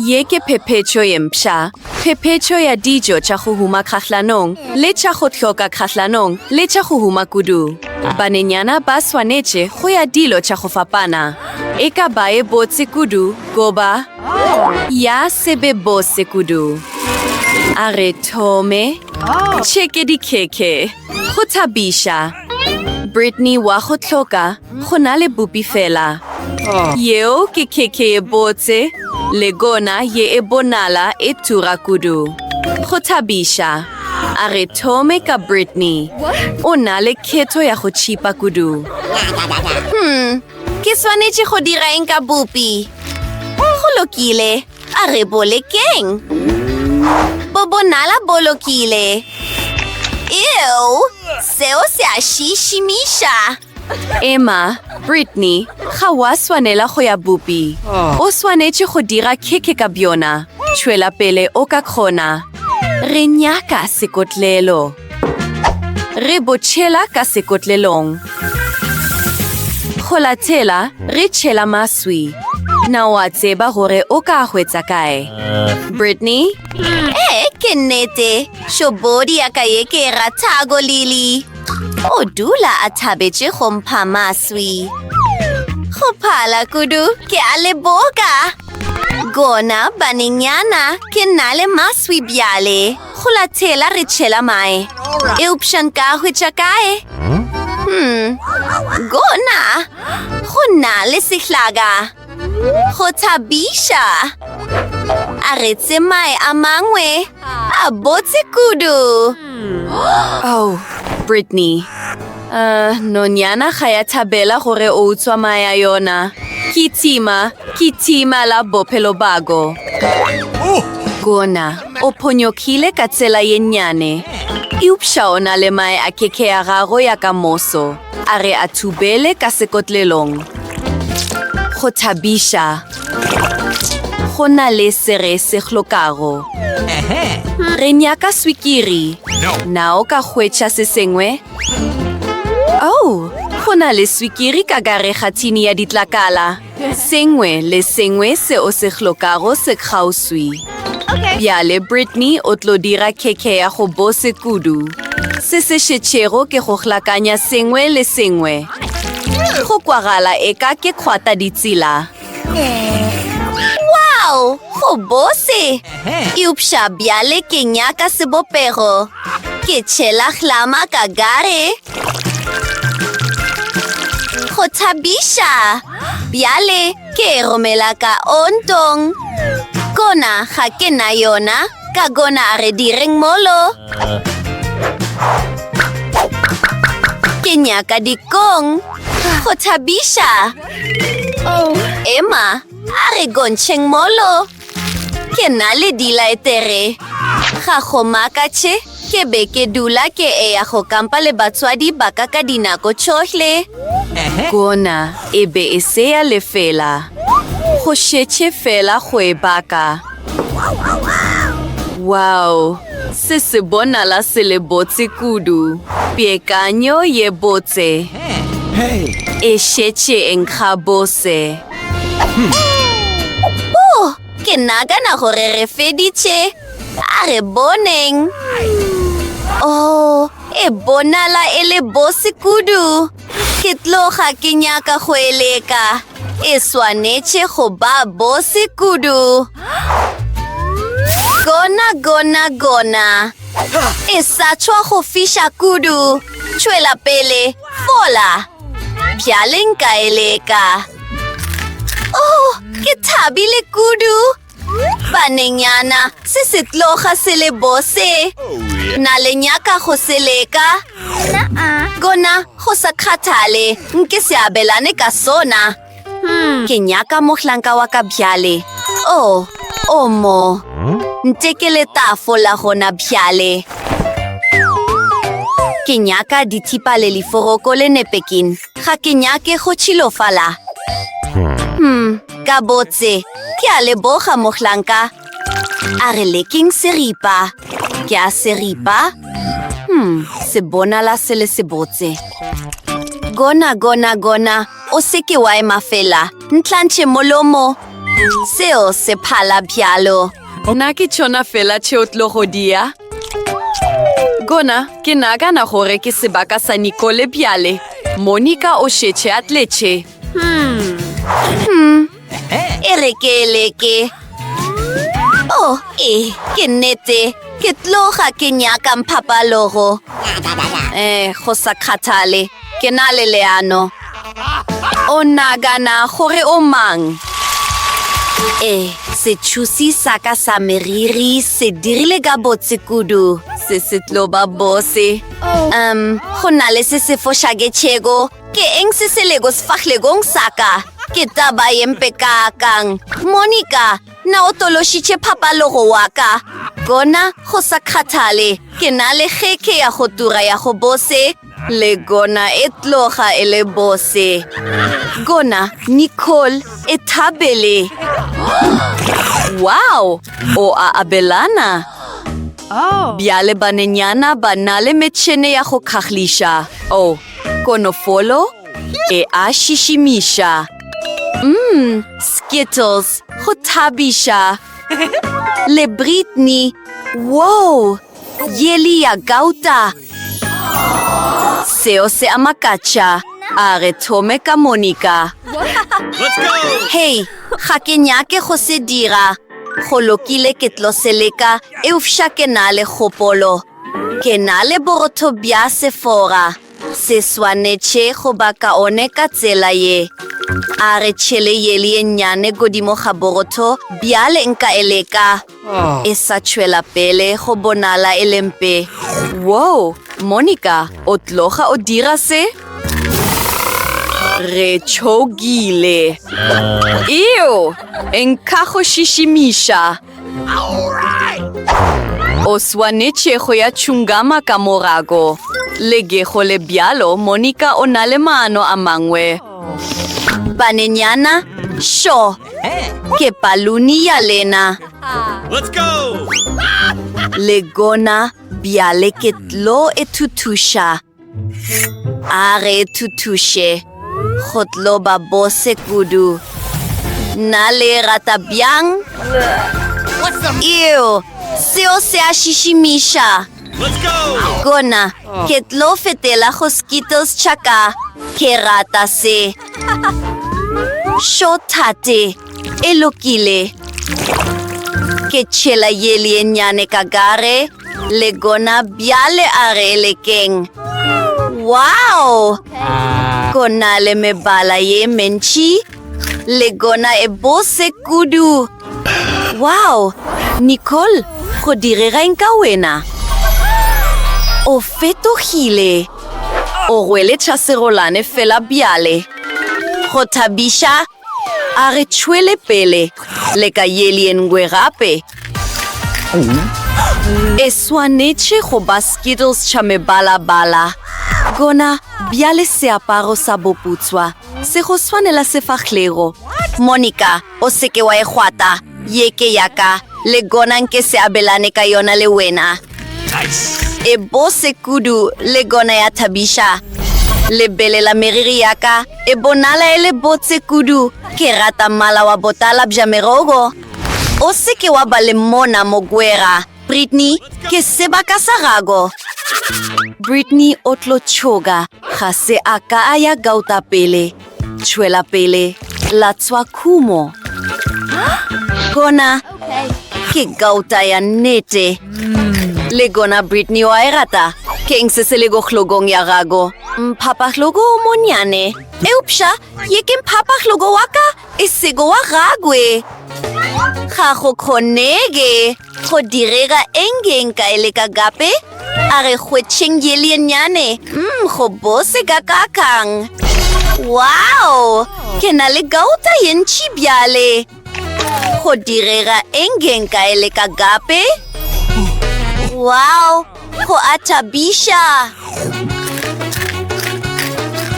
Ye ke phephetšo ye mpsha, phephetšo ya dijo tša go huma kgahlanong le tša go hloka kgahlanong le tša go huma kudu. Banenyana ba swanetše go ya dilo tša go fapana, e ka baye botse kudu goba ya se be bose kudu. A re thome. Tšheke dikhekhe. Go thabiša. Brittany wa go hloka Go na le bupi fela. Yeo ke khekhe ye botse, le gona ye e bonala e tura kudu. Go thabiša. A re thome ka Brittany. O na le khetho ya go tšhipa kudu. Hmm, ke swanetše go dira eng ka bupi? Go lokile, a re bo lekeng. Bo bonala bo lokile. Eo, seo se a šišimiša. Emma, Brittany, ga wa swanela go ya bupi. O swanetše go dira khekhe ka bjona. Tšhwela pele o ka kgona. Re nyaka sekotlelo. Re botšhela ka sekotlelong. Go latela, re tšhela maswi. Na wa tseba gore o ka hwetsa kae? Brittany? Ee, ke nnete. Šobodi ya ka ye ke e rathago, Lily. O dula a thabetše go mpha maswi. Go phala kudu, ke a le boka. Gona banenyana, ke nna le maswi bjale. Go latela re tšhela mae. Eupša nka hwetša kae? Hmm, gona go nna le sehlaga. Go thabiša! A re tsemae a mangwe a botse kudu. Oh, Brittany. Uh, nonyana ga ya thabela gore o utswa mae a yona. Ke tima, ke tima la bophelo bago. Gona, o phonyokile ka tsela ye nnyane. Eupša o na le mae a keke ya gago ya ka moso. A re a thubele ka sekotlelong. Go thabiša go na le se re se hlokago. Re nyaka swikiri. Na o ka hwetša se sengwe? Oh, go na le swikiri ka gare ga thini ya ditlakala. Sengwe le sengwe se o se hlokago se kgauswi. Bjale Brittany o tlo dira khekhe ya go bose kudu. Se se šetšego ke go hlakanya sengwe le sengwe. Go kwagala eka ke kgwata ditsela. Wow! Go bose! Eupša bjale ke nyaka sebopego. Ke tšhela hlama ka gare. Go thabiša! Bjale ke e romela ka ontong. Gona ga ke na yona, ka gona re direng molo. Ke nyaka dikong. Go thabiša! Emma, a re gontšheng molo. Ke na le dilaetere. Ga go makatše, ke be ke dula ke eya go kampa le batswadi ba ka ka dinako tšohle. Gona e be e se ya lefela. Go šetše feela go e baka. Wow! Se se bonala se le botse kudu. Peakanyo ye botse e šetše e nkga bose. Oh, ke nagana gore re feditše. A re boneng. Oh, e bonala e le bose kudu. Ke tloga ke nyaka go eleka. E swanetše go ba bose kudu. Gona, gona, gona. E sa tšhwa go fiša kudu. Tšwela pele, fola. Bjale nka e leka. Oh, ke thabile kudu. Banenyana, se se tloga se le bose. Na le nyaka go se leka? Gona, go sa kgathale, nke se abelane ka sona. Ke nyaka mohlanka wa ka bjale. Oh, oh mo. Nte ke le tafola gona bjale. Ke nyaka dithipa le liforoko le nepekin. Ga ke nyake go tšhilofala. Hmm, ka botse. Ke a leboga mohlanka. A re leking seripa. Ke a seripa. Hmm, se bonala se le sebotse. Gona, gona, gona. O se ke wa ema fela. Ntlantšhe molomo. Seo se phala bjalo. Na ke tšona fela tše o tlo go dia? Gona, ke nagana gore ke sebaka sa Nicole bjale. Monica o šetše a tletše. Hmm. e re ke leke o oh, e ke nnete ke tloga ke nyaka mphapalogo eh go sa kgathale ke na le leano o nagana gore o mang e setšhusi sa ka sa meriri se dirile ka botse kudu se se tlo ba bose um go na le se se fošaketšheko Ke eng se se lego sefahlegong sa ka? Ke taba ye mpe kaakang! Monica, na o tološitše phapalogo wa ka? Gona, go sa kgathale, ke na le kgekhe ya go tura ya go bose, le gona e tloga e le bose. Gona, Nicole, e thabele! Wow! O a abelana! Bjale banenyana ba na le metšhene ya go kgahliša. Oh, Konofolo e a šišimiša. Mmm, Skittles, go thabiša. Le Brittany, wow, yeli ya gauta. Seo se a makatša, a re thome ka Monica. Hei, ga ke nyake go se dira. Go lokile ke tlo se leka eupša ke na le kgopolo. Ke na le borotho bja sefora, se swanetše go ba kaone ka tsela ye. A re tšhele yeli ye nnyane godimo ga borotho, bjale nka e leka. E sa tšwela pele go bonala e le mpe. Woo, Monica, o tloga o dira se? Re tšhogile. Eo! Nka go šišimiša. O swanetše go ya tšhungama ka morago. Lege go le bjalo, Monica o na le maano a mangwe. Banenyana, šo! Ke paluni ya lena. Le gona bjale ke tlo e thuthuša. A re thuthuše go tlo ba bose kudu. Nna le rata bjang? Eo, seo se a šišimiša. Gona, ke tlo fetela go Skittles tša ka. Ke rata se. Šo thate. E lokile. Ke tšhela yeli ye nnyane ka gare, le gona bjale a re e lekeng. Wow! Go na le mebala ye mentši, le gona e bose kudu. Wow! Nicole, go direga eng ka wena? O fetogile. O rwele tšhasegolane fela bjale. Go thabiša! A re tšhwele pele le ka ye lengwe gape. E swanetše go ba skittles tša mebala-bala. Gona bjale seaparo sa boputswa se go swanela sefahlogo. Monica, o se ke wa e kgwata, ye ke ya ka, le gona nke se abelane ka yona le wena. e bose kudu le gona ya thabiša lebele la meriri ya ka e bonala e le botse kudu ke rata mmala wa botala bja merogo o se ke wa ba le mona mogwera britney ke sebaka sa gago britney o tlo tšhoga ga se a ka a ya gauta pele Tšwela pele, latswa khumo. Gona ke gauta ya nnete. Le gona Brittany wa e rata. Keng se se le go hlogong ya gago? Mphapahlogo o monyane. Eupša, ye ke mphapahlogo wa ka, e sego wa gagwe. Ga go kgonege. Go direga eng eng ka e leka gape? A re hwetšheng yeli e nnyane. Mm, go bose ka kakang. Wow! Ke na le gauta ye ntši bjale. Go direga eng eng ka e leka gape? Wow! Go a thabiša!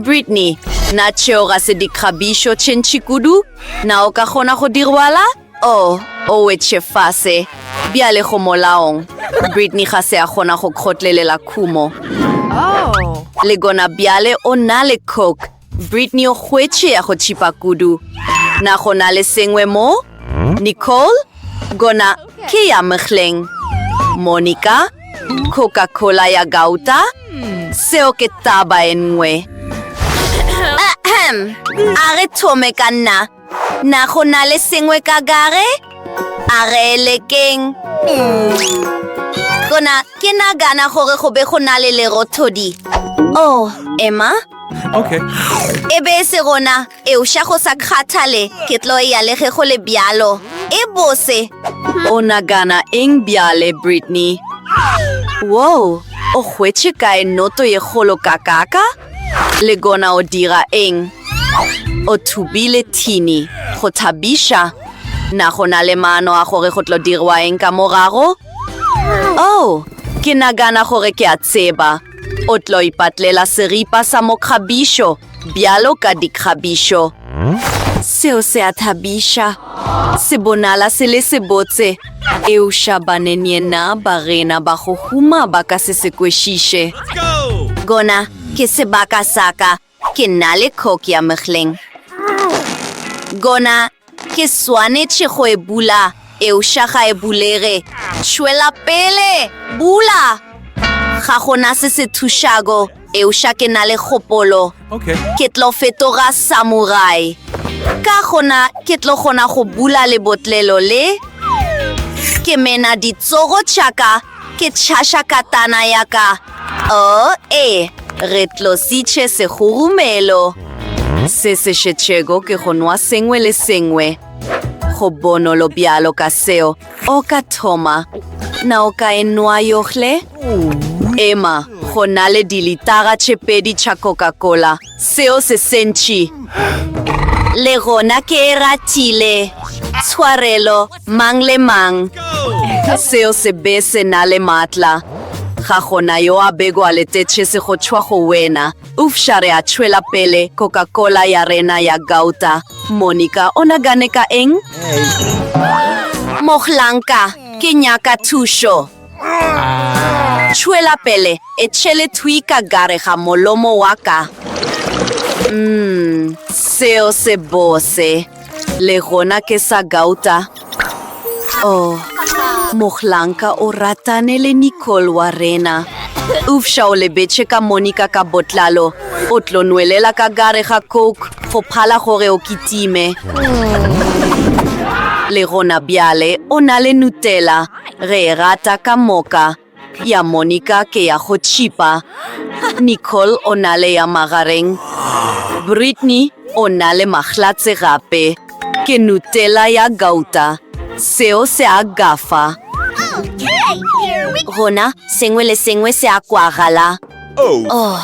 Brittany, na tšeo ga se dikgabišo tše ntši kudu? Na o ka kgona go di rwala? O, o wetše fase, bjale go molaong. Brittany ga se a kgona go kgotlelela khumo. Le gona bjale o na le coke. Brittany o hwetše ya go tšhipa kudu. Na go na le sengwe mo? Nicole, gona ke ya mekhleng. Monica, Coca-Cola ya gauta? Seo ke taba e nngwe. Ahem, a re thome ka nna. Na go na le sengwe ka gare? A re lekeng. Gona, ke nagana gore go be go na le lerothodi. Oh, Emma? Okay. E be e se gona, eupša go sa kgathale, ke tlo ya le ge go le bjalo. E bose. O nagana eng bjale, Brittany? Whoa, o hwetše kae noto ye kgolo kakaka? Le gona o dira eng? O thubile thini go thabiša. Na go na le maano a gore go tlo dirwa eng ka morago? Oh, ke nagana gore ke a tseba. O tlo ipatlela seripa sa mokgabišo bjalo ka dikgabišo. Seo se a thabiša. Se bonala se le sebotse. Eupša banenyenna ba gena ba go huma ba ka se se kwešiše. Gona ke sebaka sa ka, ke nna le khok ya mehleng. Gona ke swanetše go e bula, eupša ga e bulege. Tšwela pele! Bula! Ga go na se se thušago. Eupša ke na le kgopolo. Okay. Ke tlo fetoga samurai. Ka gona ke tlo kgona go bula lebotlelo le. Ke mena ditsogo tšaka, ke tšhaša katana ya ka. Oh, ee, re tlositše segurumelo. Se se šetšego ke go nwa sengwe le sengwe. Go bonolo bjalo ka seo. O ka thoma na o ka e nwa yohle? Ema, go na le dilitara tše pedi tša Coca-Cola. Seo se sentši. Le gona ke e ratile. Tshwarelo, mang le mang. Seo se be se na le matla. Ga gona yo a bego a letetše se go tšwa go wena. Eufša re a tšwela pele Coca-Cola ya rena ya gauta. Monica o nagane ka eng? Mohlanka, ke nyaka thušo. Tšwela pele, e tšhele thwi ka gare ga molomo wa ka. Umm, seo se bose. Le gona ke sa gauta. Oh, mohlanka o ratane le Nicole wa rena. Ufša o lebetše ka Monica ka botlalo. O tlo nwelela ka gare ga Coke go phala gore o kitime. Le gona bjale o na le Nutella. Re e rata ka moka. Ya Monica ke ya go tšhipa, Nicole o na le ya magareng, Brittney o na le mahlatse gape ke Nutella ya gauta, seo se a gafa. Gona sengwe le sengwe se a kwagala. Oh,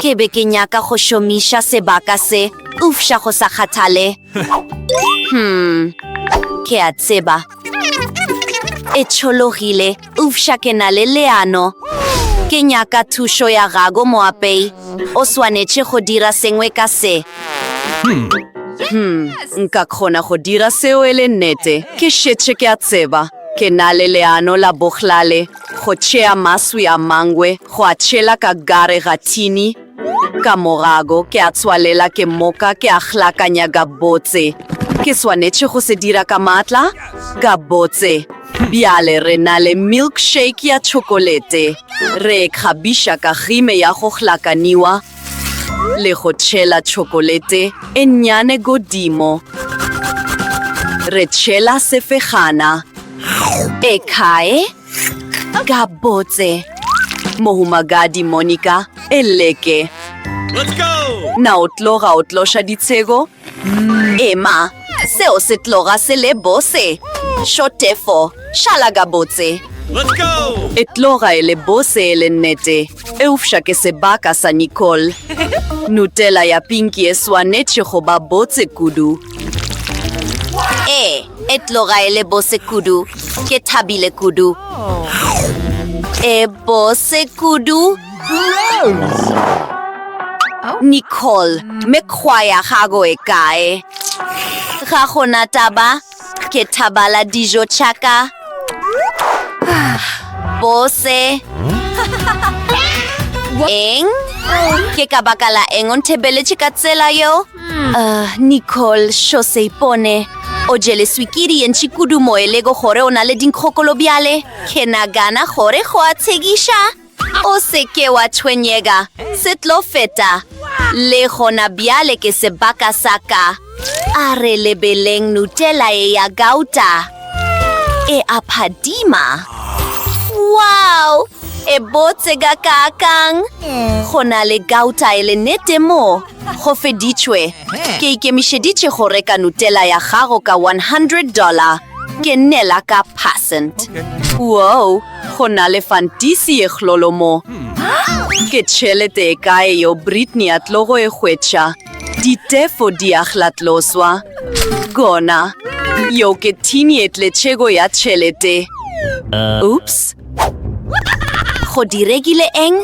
ke be ke nyaka go šomiša sebaka se, eupša go sa kgathale. Hmm, ke a tseba. E tšhologile, ufša ke na le leano. Ke nyaka thušo ya gago moapei. O swanetše go dira sengwe ka se. Hmm, nka kgona go dira seo e le nnete. Ke šetše ke a tseba. Ke na le leano la bohlale. Go tšea maswi a mangwe, go a tšhela ka gare ga thini, Ka morago ke a tswalela, ke moka ke a hlakanya gabotse. Ke swanetše go se dira ka matla? Gabotse. Bjale re na le milkshake ya tšhokolete. Re e kgabiša ka kgime ya go hlakaniwa le go tšhela tšhokolete e nnyane godimo. Re tšhela sefegana. E kae? Gabotse. Mohumagadi Monica, e leke. Let's go! Na o tlo ga o tloša ditshego? Mm. Ema, seo se tloga se le bose. Shotefo, šala gabotse. Let's go! E tloga e le bose e le nnete. Eupša ke sebaka sa Nicole. Nutella ya pinki e swanetše go ba botse kudu. Ee, e tloga e le bose kudu. Ke thabile kudu. E bose kudu. Nicole, mekgwa ya gago e kae? Ga gona taba. Ke thabala dijo tšaka. Bose. Eng? Ke ka baka la eng o nthebeletše ka tsela yo? Uh, Nicole, xo se ipone. O jele swikiri ye ntši kudu mo e lego gore o na le dinkgokolo bjale. Ke nagana gore go a tshekiša. O se ke wa tshwenyega, se tlo feta. Le gona bjale ke sebaka sa ka. A re lebeleng Nutella ye ya gauta. E a phadima. Wow! E botse gakaakang! Go na le gauta e le nete mo. Go feditšwe. Ke ikemišeditše go reka Nutella ya gago ka one hundred dollar. Ke nnela ka percent. Woo! Go na le fantisi ye khlolo mo. Ke tšhelete e kae yo Britney a tlo go e hwetša? Ditefo di a hlatloswa. Gona. Yo ke thini e tletšego ya tšhelete. Oops. Go diregile eng?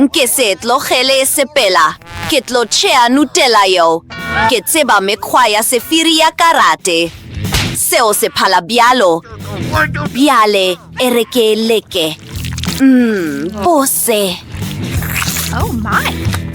Nke se e tlogele e sepela. Ke tlo tšea nutela yo. Ke tseba mekgwa ya sefiri ya karate. Seo se phala bjalo. Bjale e re ke leke. Mmm, bose. Oh my.